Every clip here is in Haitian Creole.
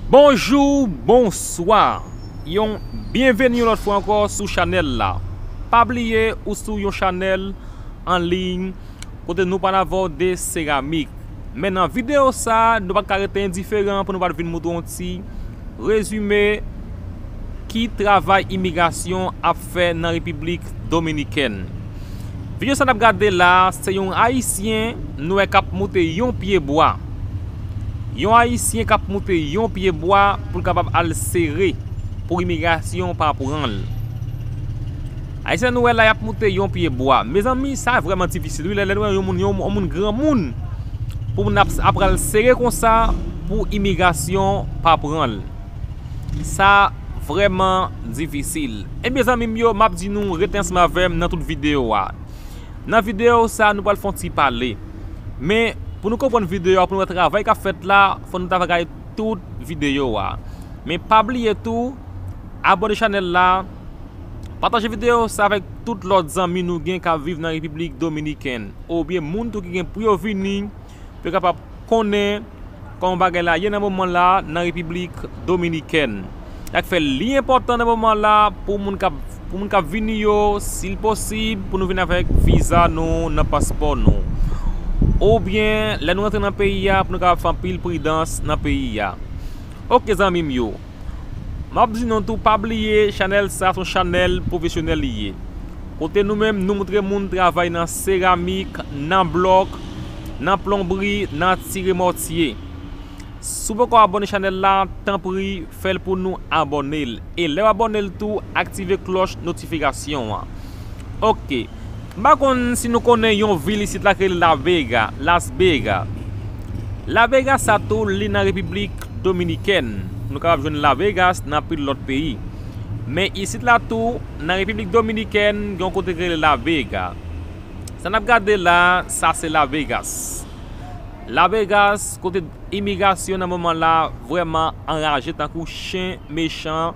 Bonjou bonswa yon byenveni yon lòt fwa ankò sou chanèl la pa bliye ou sou yon chanèl anliy kote nou pral avòde seramik men nan videyo sa nou pa t ka rete endiferan pou nou pa t vin moutre yon ti rezime ki travay imigrasyon ap fè nan repiblik dominikèn. Video sa nap gade la se yon ayisyen nou wè kap moute yon pye bwa yon ayisyen kap moute yon pye bwa poul kapab al sere pou imigrasyon pa pranl ayisyen nou wè la yap moute yon pye bwa mezanmi sa vreman difisil wi lè nou wè yon moun yon moun granmoun pou moun ap pral sere konsa pou imigrasyon pa pranl. Sa vrèman difisil. Ebyen zanmim yo map di nou rete ansanm avèm nan tout video a. Nan video sa nou pral fon ti pale. Men pou nou konprann video a pou nou wè travay kap fèt la fò nou ta va gade tout video a. Men pa bliye tou abone chanèl la, pataje video sa avèk tout lòt zanmi nou gen kap viv nan repiblik dominikèn. Ou byen moun tou ki gen pou yo vini. pou yo kapab konnen kòman bagay la ye nan moman la nan Repiblik Dominikèn. Sak fè li enpòtan nan moman la pou moun kap pou moun kap vini yo sil posib pou nou vin avèk viza nou nan paspò nou. Oubyen lè nou rantre nan peyi a pou nou kapab fè anpil pridans nan peyi a. Ok zanmi m yo. Map di nou tou pa bliye chanèl sa son chanèl pwofesyonèl li ye kote nou menm nou moutre moun travay nan seramik, nan blòk, nan plonbri, nan tire mòtye. Si w poko abone chanèl la tanpri fèl pou nou abone l e lèw abone l tou aktive klòch notifikasyon an ok. M pa konn si nou konnen yon vil isit la ki rele La Vega, Las Bega. La Vega sa tou li nan Repiblik Dominikèn. Nou kapab jwenn La Vegas nan anpil lòt peyi. Men isit la tou, nan Repiblik Dominikèn, gen yon kote ki rele La Vega. Sa n ap gade la, sa se La Vegas. La Vegas, kote imigrasyon nan moman la vrèman anraje tankou chen mechan.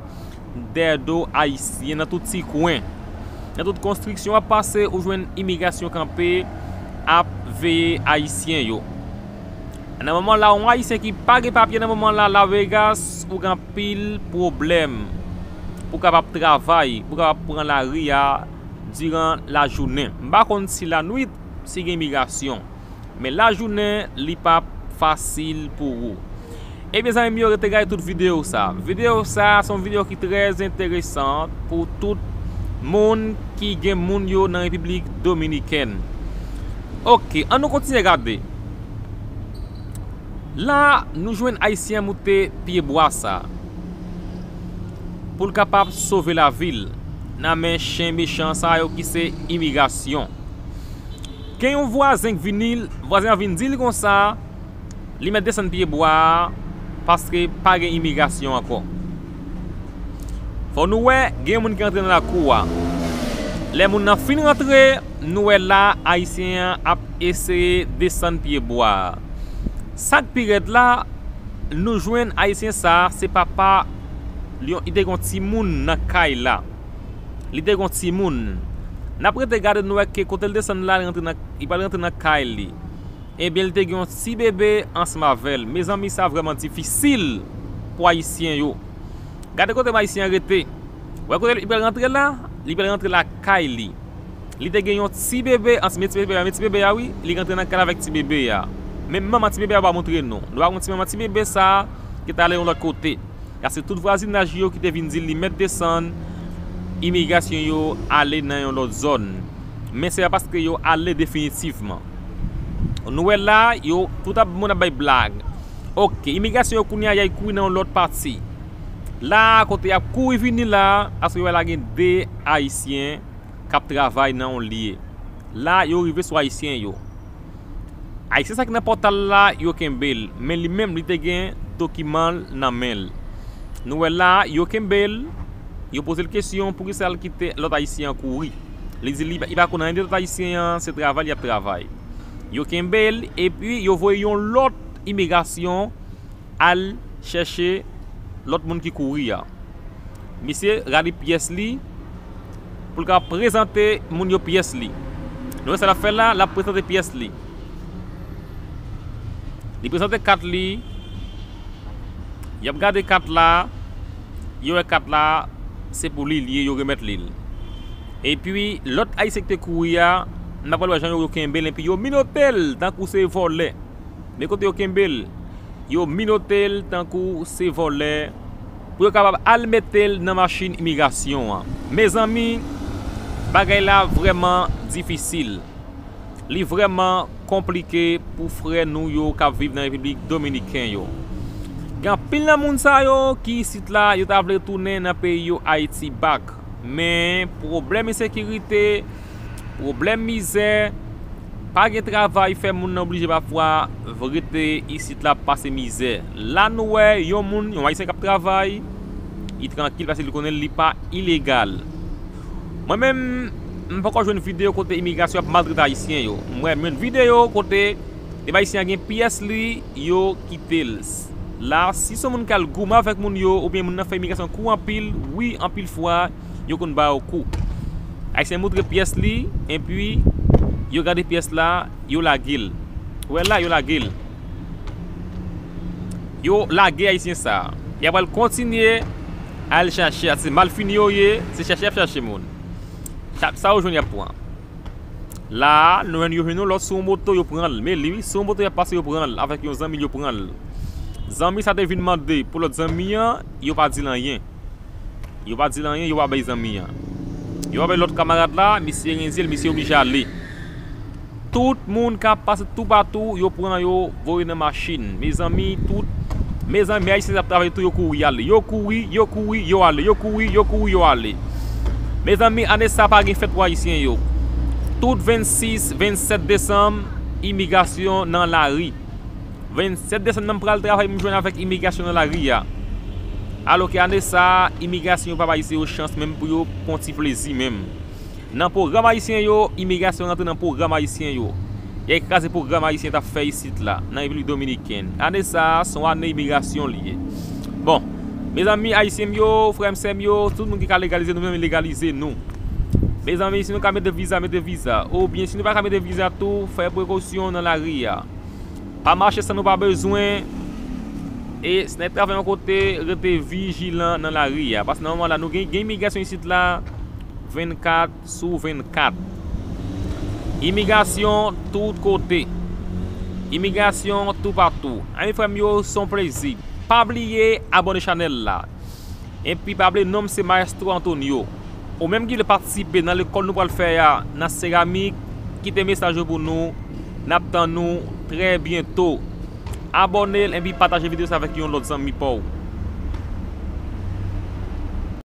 Dèyè do Ayisyen nan tout ti kwen. Nan tout konstriksyon w ap pase ou jwenn imigrasyon kanpe ap veye Ayisyen yo. Nan moman la yon Ayisyen ki pa gen papye nan moman la La Vegas ou gen anpil pwoblèm pou w kapab travay, pou w kapab pran lari a diran lajounen. M pa konn si lanwit si gen imigrasyon. Men lajounen li pa fasil pou ou. Ebyen zanmi m yo rete gade tout video sa. Video sa se yon video ki trè enteresan pou tout moun ki gen moun yo nan repiblik dominikèn. Ok an nou kontinye gade. La nou jwenn ayisyen an moute pye bwa sa. Pou l kapab sove lavi l nan men chen mechan sa yo ki se imigrasyon. Gen yon vwazen k vini, vwazen an vin di l konsa. Li mèt desann pye bwa a paske pa gen imigrasyon ankò. Fò nou wè gen yon moun ki rantre nan lakou a. Lè moun nan fin rantre, nou wè la Ayisyen an ap eseye desann pye bwa a. Sa k pi rèd la, nou jwenn Ayisyen sa a se papa yon, li te gen yon timoun nan kay la. Li te gen yon timoun. N ap rete gade nou wè ke kote l desann la li rantre nan, li pral rantre nan kay li. Ebyen li te gen yon ti bebe ansm avèl. Mezanmi sa vrèman difisil pou ayisyen yo. Gade kote ayisyen an rete. Ou wè kote li pral rantre la? Li pral rantre lakay li. Li te gen yon ti bebe ansm e ti bebe a. Men ti bebe a wi. Li rantre nan kay la avèk ti bebe a. Men manman ti bebe a ou pa montre nou. Nou pa konn ti manman ti bebe sa ki t ale yon lòt kote. Ya se tout vwazinaj li yo ki te vin di li mèt desann. Imigrasyon yo ale nan yon lòt zòn. men se pa paske yo ale definitivman. Nou wè la, yo, tout ap, moun ap bay blag. Ok, imigrasyon yo kounye a y al kouri nan yon lòt pati. La a, kote y ap kouri vini la a, paske yo wè la gen de Ayisyen k ap travay nan yon lye. La, yo rive sou Ayisyen yo. Ay se sak nan pòtal la yo kenbel men li menm li te gen dokimanl nan menl nou wè la yo kenbel yo pozel kesyon poukisa li kite lòt ayisyen an kouri li di li pa konn anyen de lòt ayisyen an se travay li ap travay yo kenbel epi yo voye yon lòt imigrasyon al chèche lòt moun ki kouri a misye rale pyès li pou l ka prezante moun yo pyès li. Nou wè sa l ap fè la, l ap prezante pyès li. Li prezante kat li, y ap gade kat la, yo wè kat la se pou li li ye, yo remèt li l. Epi, lòt Ayisyen ki te kouri a, n ap pral wè jan yo kenbe l enpi yo minote l tankou se vòlè. Men kote yo kenbe l, yo minote l tankou se vòlè. pou yo kapab al mete l nan machin imigrasyon an. Mezanmi, bagay la vrèman difisil. Li vrèman konplike pou frè nou yo k ap viv nan Repiblik Dominiken yo. Gen anpil nan moun sa yo ki isit la, yo ta vle tounen nan peyi yo Ayiti back, men pwoblèm ensekirite, Pwoblèm mizè, pa gen travay fè moun nan blije pafwa rete isit la ap pase mizè. La nou wè yon moun, yon ayisyen k ap travay, li trankil paske li konnen li pa ilegal. Mwen menm, m poko jwenn videyo kote imigrasyon ap maltrete ayisyen yo. M wè menm videyo kote depi ayisyen an gen pyès li, yo kite l. La si son moun k al goumen avèk moun yo oubyen moun nan fè imigrasyon kou anpil, wi anpil fwa. yo konn ba yo kou. Ayisyen moutre pyès li enpi yo gade pyès la yo lage l. Ou wè l la yo lage l. Yo lage ayisyen sa. Y ap al kontinye al chache a se malfini yo ye se chache y ap chache moun. Sa yo jwenn y ap pran. La a nou wè yo jwenn yon lòt sou yon moto yo pran l. Men li wi sou yon moto y ap pase yo pran l avèk yon zanmi l yo pran l. Zanmi sa te vin mande pou lòt zanmi an yo pa di l anyen. Yo pa di l anyen, yo pa bay zanmi an. Yo pa bay lòt kamarad la, misye renze l, misye oblije ale. Tout moun k ap pase toupatou, yo pran yo, voye nan machin. Mezanmi, tout, mezanmi, men Ayisyen sa ap travay tou, yo kouri y ale. Yo kouri, yo kouri, yo ale, yo kouri, yo kouri, yo ale. Mezanmi, ane sa a pa gen fèt pou Ayisyen yo. Tout 26, 27 desanm, imigrasyon nan lari. 27 desann nan m pral travay m jwenn avèk imigrasyon nan lari a. Alò ke ane sa a, imigrasyon yo pa ba Ayisyen yo chans menm pou yo pran yon ti plezi menm. Nan pwogram Ayisyen yo, imigrasyon rantre nan pwogram Ayisyen yo. Y al kraze pwogram Ayisyen t ap fè isit la, nan Repiblik Dominikèn. Ane sa a, se yon ane imigrasyon li ye. Bon, mezanmi Ayisyen m yo, frè m, sè m yo, tout moun ki ka legalize nou menm legalize nou. Mezanmi, si nou ka mete viza, mete viza. Oubyen, si nou pa ka mete viza tou, fè prekosyon nan lari a. Pa mache san nou pa bezwen e si nèg travay yon kote rete vijilan nan lari a paske nan moman la nou gen imigrasyon isit la 24 sou 24 imigrasyon tout kote imigrasyon toupatou anmweyy frèm yo son plezi pa bliye abone chanèl la. Enpi pa bliye non m se Maestro Antonio. Ou menm ki vle patisipe nan lekòl nou pral fè a nan seramik, kite mesaj ou pou nou. N ap tann ou trè byento. Abòne enpi pataje videyo sa avèk yon lòt zanmi pa w.